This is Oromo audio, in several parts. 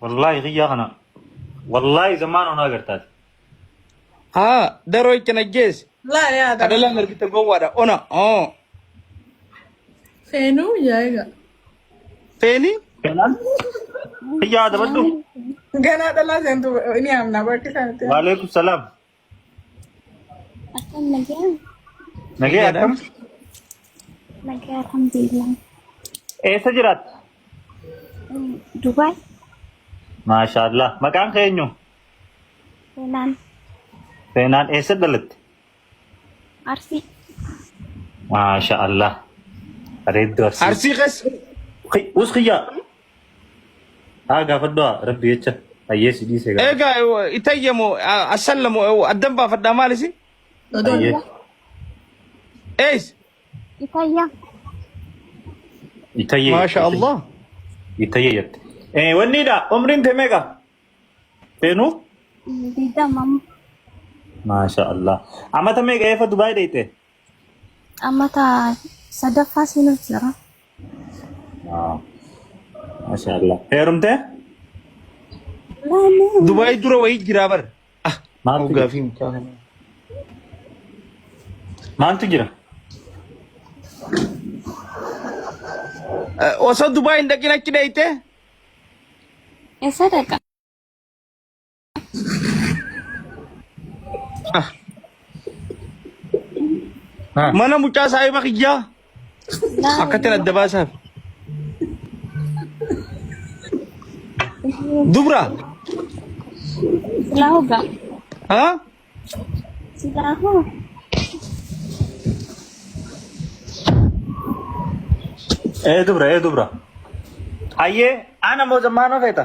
Wallahi kiyyaa kana wallahi zammaan onaa gartaati. Haa daroo itti najjeesse. Laa yaa dara. Kadhalaan argite gowwaadha ona oo. Feenuu yaa egaa. Feeni Kanaan kiyyaa dabadhu. Ganaa dhalaa seentu ni amna bakka isaanitti. Waalaikum salaam. Akkam nagaan? Nagee Nagaadha. akkam? Nagaa alhamdulillah. Eessa jiraatta? Mm, Dubaay Maashaallah. Maqaan kee eenyu? seenaan Seenaan eessa dhalatte? Arsii Maashaallah. Bareedduu arsii. Arsii keessa Us kiyyaa. Haa gaafadhu haa rabbi jecha hayyee si dhiise gaafadhu. Egaa eh, itayya moo ah, asalla moo eh, addan baafadhaa maal isin? Hayyee. Ees Itayya. Itayyee. maasha Allah. Itayyee jette. Eh wanni dha umriin tee meeqa? Seenuu? Didamam. Maasha Allah. Amata meeqa eefa Dubaay dheeyte? Amma taa sadaffaa seenuuf jira. Ah, Masha Allah. Heerumtee? Laanni Dubaay dura wayii jiraa bar. Ah, Maaltu jira? gaafii mucaa kana. Maaltu jira? Eh, Osoo Dubaay hin dhaqin achi dheeyte? eessa dhaqa? Mana mucaa saahiba kiyyaa akkatti adda baasaaf. Dubra. Silaa hoggaa. Haa? Silaa hoo. Ee dubra ee dubra. Ayyee ana moo zammaanoo feeta?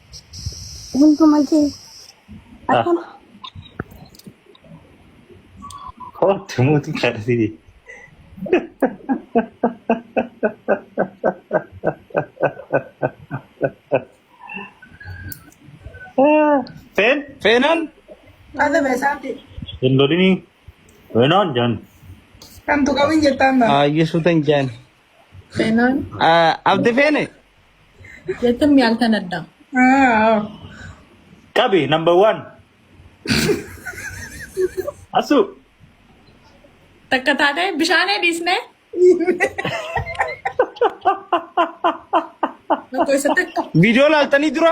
hunduma kee Ah, akkana Kooti mootii kadhatini. Feen feenaan Ada besaati. hin lolini. Feenaan jaan. Kan tu kawin jetaan na. Ayyuu suutan jaan. Seenaan Abdi feene jechuun miyaaltan addaa. qabi number one. Asu Takka taatee bishaanee dhiisnee. Tokko isa takka. viidiyoo laaltanii dura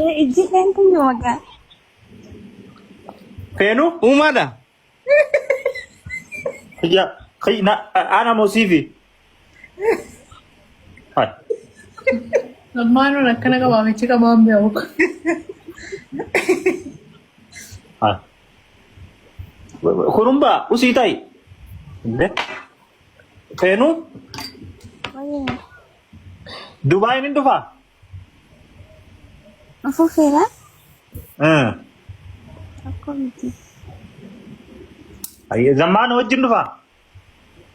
Ee, Ijji keenya yoo magaa. Feenu uumaadha. Kiyya kiyya na ana mosiifi. Hai. Ammaanuu akkana qabaa michi qabaa hin beeku. Hai. Kurumba usii ta'i. Inde. Seenuu Dubaayin hin dhufaa? Afuufeera Eh. rakkoo miti. Ayyee, Zammaan wajjin dhufaa?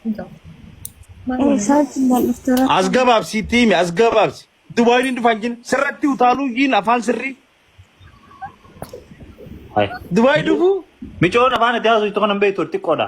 Eh, Isaa wajjin kan dhuftu rakkoo As gabaabsi itti himi, as gabaabsi. Dubaayin hin dhufaan jin sirratti utaaluu jiin afaan sirrii. Dubaayi dhufuu? Micoon afaan itti haasoftu kan hin beektu xiqqoodha.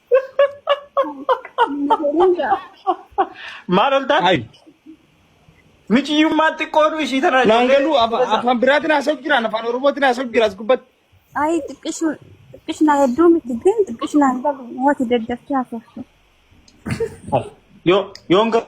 Maal oltaan? Hayi. Miciyyummaan xiqqooduu ishii tanaa Naan ijoollee. galuu afa- afaan biraatiin haasa'u jiraan afaan oromootiin haasa'u jira as gubbatti. Ayi xiqqishu xiqqishna hedduu miti gin xiqqishnaan galu wati daddafti haasoftu. Yoo yoon ga-